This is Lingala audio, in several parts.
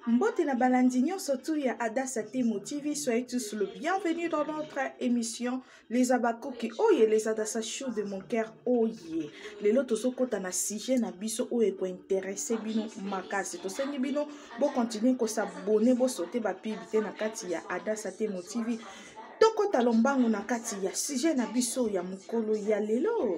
Mbote na balandi nyonso tu ya Adassa Temo TV, soyez tous le bienvenu dans notre émission Les Abakoki oye les Adassa Show de mon cœur oye. Lelo tozokota na sujet na biso oyo ekointeresse bino makasi. Tosengi bino bo continuer ko s'abonner, bo sauter ba pub te na kati ya Adassa Temo TV. Tokota lombango na kati ya sujet na biso ya mokolo ya lelo.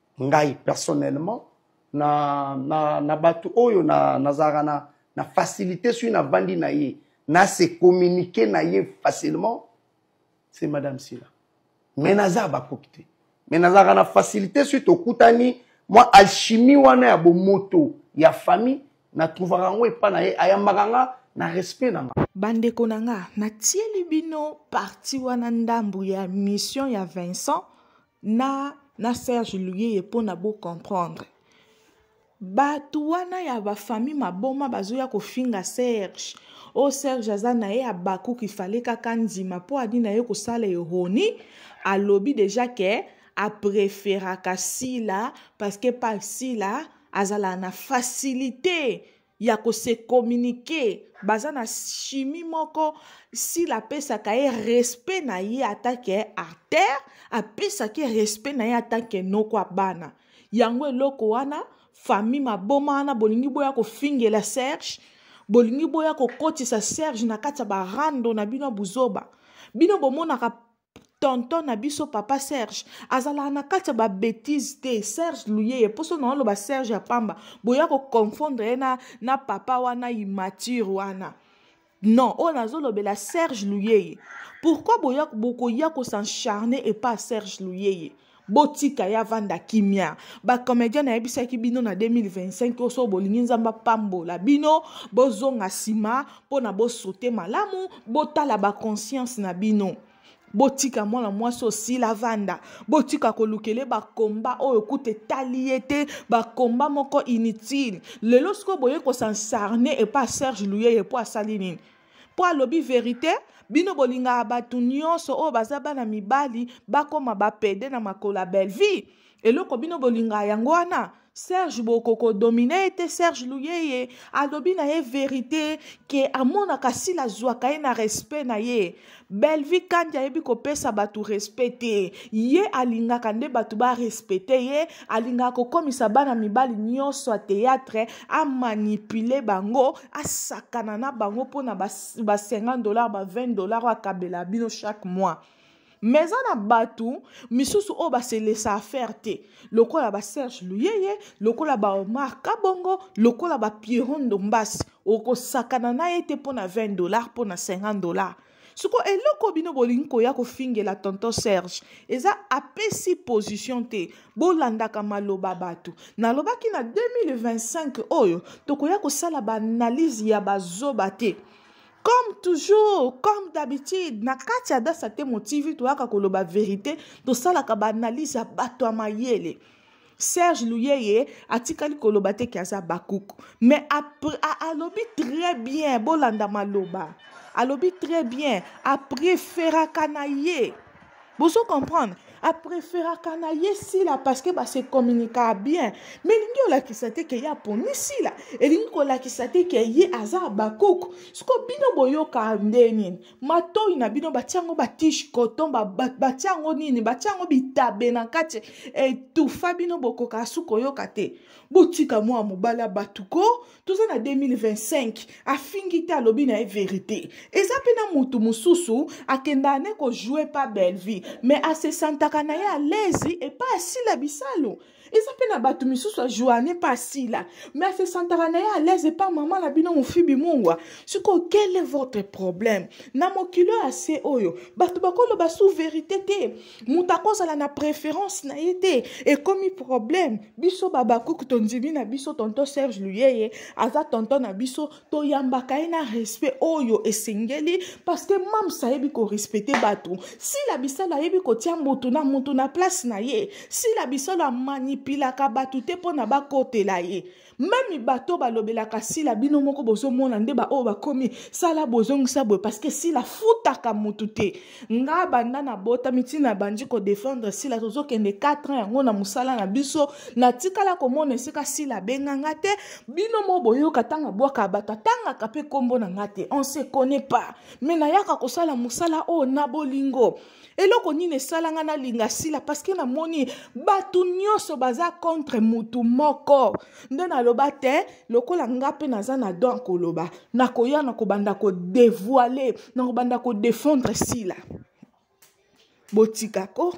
ngai personnellement na, na, na bato oyo nazalaka na, na, na facilité soki navandi na ye na se communiquer na ye facilement c'est madame sila mais naza bakoki te mais nazalaka na facilité soki tokutani mwa alchimie wana ya bomoto ya famille natrouvaka yango epa na ye ayambaka nga na respect na nga bandeko na nga natieli bino parti wana ndambu ya mission ya vincent na na serge luyeye mpo na bocomprendre bato wana ya bafamille maboma bazoya kofinga serge o serge aza na ye abakuki fale kaka ndima mpo adi na ye kosala eroni alobi deja ke apreferaka sila parceke pa sila azalaka na facilite ya ko se communiquer baza na chimie moko sila apesaka ye respect na ye atake artère apesaki respect na ye atake noko ya bana yango eloko wana famille maboma wana bolingi boya kofingela serge bolingi boya kokotisa serge na kati ya barando na bino ya buzoba bino bomonaka tonton na biso papa serge azalaka na kati ya babetise te serge luyeye mposo na oloba serge ya pamba boya koconfondre ye na, na papa wana immature wana non oyo nazolobela serge luyeye pourkui bokoya kosencharne epa serge luyeye botika ye avanda kimia bacomedien nayebisaki bino na 2025 oyo soko bolingi nzambe apambola bino bozonga nsima mpo na bosote malamu botala baconscience na bino botika mwana mwasi osila vanda botika kolukele bakomba oyo kuta etali ye te bakomba moko inutile lelo sikoyo boye kosansarne epa serge luyeye mpo asali nini mpo alobi verite bino bolingaka bato nyonso oyo baza bana mibali bakoma bapede na makolo ya bellevie eloko bino bolingaka yango wana serge bokoko domine ye te serge luyeye alobi na ye verite ke amonaka sila azwaka ye na respect na ye Bellevue Kandi ayebi kopesa bato respect te ye alingaka nde bato barespecte ye alingaka kokomisa bana mibali nyonso ya théâtre amanipule bango asakana na bango mpo na ba 50 dollar ba 20 dollar oyo akabela bino chaque mois me eza na bato misusu oyo baselesa affaire te lokola baserge luyeye lokola baomar kabongo lokola bapierro ndombasi okosakana na ye te mpo na 20 dollar mpo na 50 dollar siko eloko bino bolingi koya kofingela tonton serge eza apesi position te bolandaka maloba bato nalobaki na 2025 oyo tokoya kosala baanalyse ya bazoba te comme toujours comme d'habitude na kati ya dasa te motivi toyaka koloba verité tosalaka baanalyse ya bato ya mayele Serge Luyeye atikali koloba te ke aza bakuku mais alobi très bien bolanda maloba alobi très bien apreferaka na ye bozo comprendre apreferaka na ye sila parce que base communikaa bien mais elingi olakisa te ke ye aponi sila elingi kolakisa te ke ye aza bakuku siko bino boyoka nde nini matoyi na bino batia yango batishe coton batia yango nini batia yango bitabe na kati etufa bino bokoka asu koyoka te botika mwa mobali ya bato ko toza na 2025 afingi te alobi na ye verite eza mpe na motu mosusu akendaka ne kojoue pa bellevie me asesantaka na ye alezi epai asila bisalu eza mpe na bato misusu ya joane mpe asila me asesantaka na ye alaise epa mama na bino mofibi mungwa sikoyo quel est votre problème na mokili oyo ase oyo bato bakoloba sous verité te moto akozala na préférence na ye te ekomi problème biso babakuku tondimi na biso tonton serge luyeye aza tonton na biso toyambaka ye na respect oyo esengeli parceke mams ayebi korespecte bato sila bisalo ayebi kotia motu na motu na place na ye sila bisalo amanipilaka bato te mpo na bakotela ye meme bato balobelaka sila bino moko bozomona nde baoyo bakomi sala bozongisa boye parceke sila afutaka motu te nga banda nabotami ntina abandi kodefendre sila tozokende 4 ans yango na mosala na biso natikala komona esika sila abenga nga te bino mo boyoka ntango abwaka bato atangaka mpe nkombo na nga te on se connaît pas me nayaka kosala mosala oyo na bolingo eloko nini esala nga nalinga sila parceke namoni bato nyonso baza contre motu moko nde naloba te lokola nga mpe naza na don koloba nakoya na kobanda kodevoile na kobanda kodefendre sila botika ko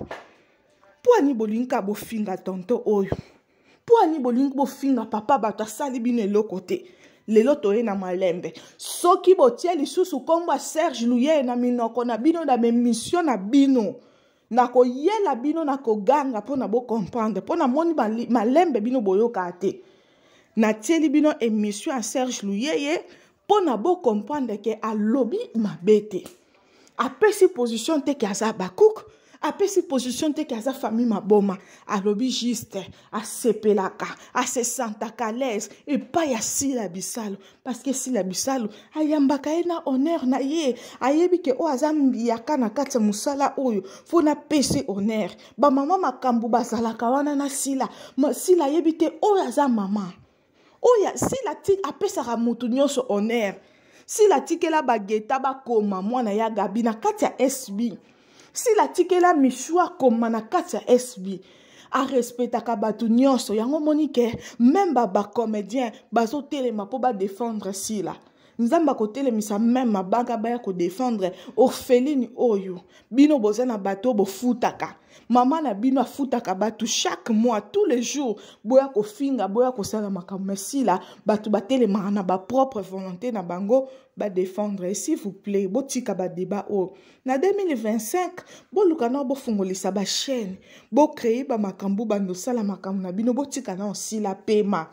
mpo ani bolingi ka bofinga tonto oyo mpo ani bolingi bofinga papa bato asali bino eloko te lelo toye na malembe soki botie lisusu nkombo ya serge luyeye na minoko na bino na bemisio na bino nakoyela bino na koganga mpo na bocomprendre mpo namoni malembe bino boyokaa te natieli bino émission ya serge luyeye mpo na bocomprendre ke alobi mabe te apesi position te ke aza bakuku apesi position te ke aza famille maboma alobi juste asepelaka asesantaka alaise epai ya sila bisalo parce que sila bisalu ayambaka ye na honneur na ye ayebi ke oyo aza mbiyaka na kati ya mosala oyo fo napesi honneur bamama makambo bazalaka wana na sila Ma, sila ayebi te oyo aza mama oyo sila ti apesaka motu nyonso honneur sila atikela bageta bakoma mwana ya gabi na kati ya sb sila atikela misu akoma na kati ya sb arespectaka bato nyonso yango omoni ke meme bacomédien bazotelema mpo badefendre sila nzambe akotelemisa meme mabanga baya kodefendre orpheline oyo bino boza na bato oyo bofutaka mama na bino afutaka bato chaque mois tous les jours boya kofinga boya kosala makambo ma sila bato batelemaka na bapropre volonté na bango badefendre s'il vous plaît botika badeba oyo na 2025 boluka nao bofungolisa bachaine bocreye bamakambo bando osala makambo na bino botika nao sila pema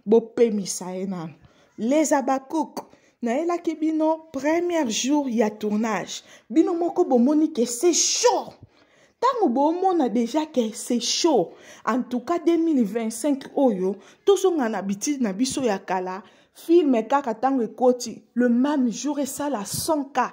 bopemisa ye nano les abakouk nayelaki bino premier jour ya tournage bino moko bomoni ke se chaud ntango bomona deja ke se chaud en tout cas 2025 oyo tozonga na bitidi na biso ya kala filme kaka ntango ekoti le même jour esala 100 cas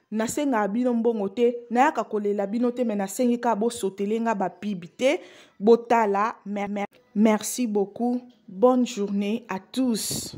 nasengaka bino mbongo te nayaka kolela bino te me nasengi kaka bosotele nga bapibi te botala merci beaucoup bonne journée à tous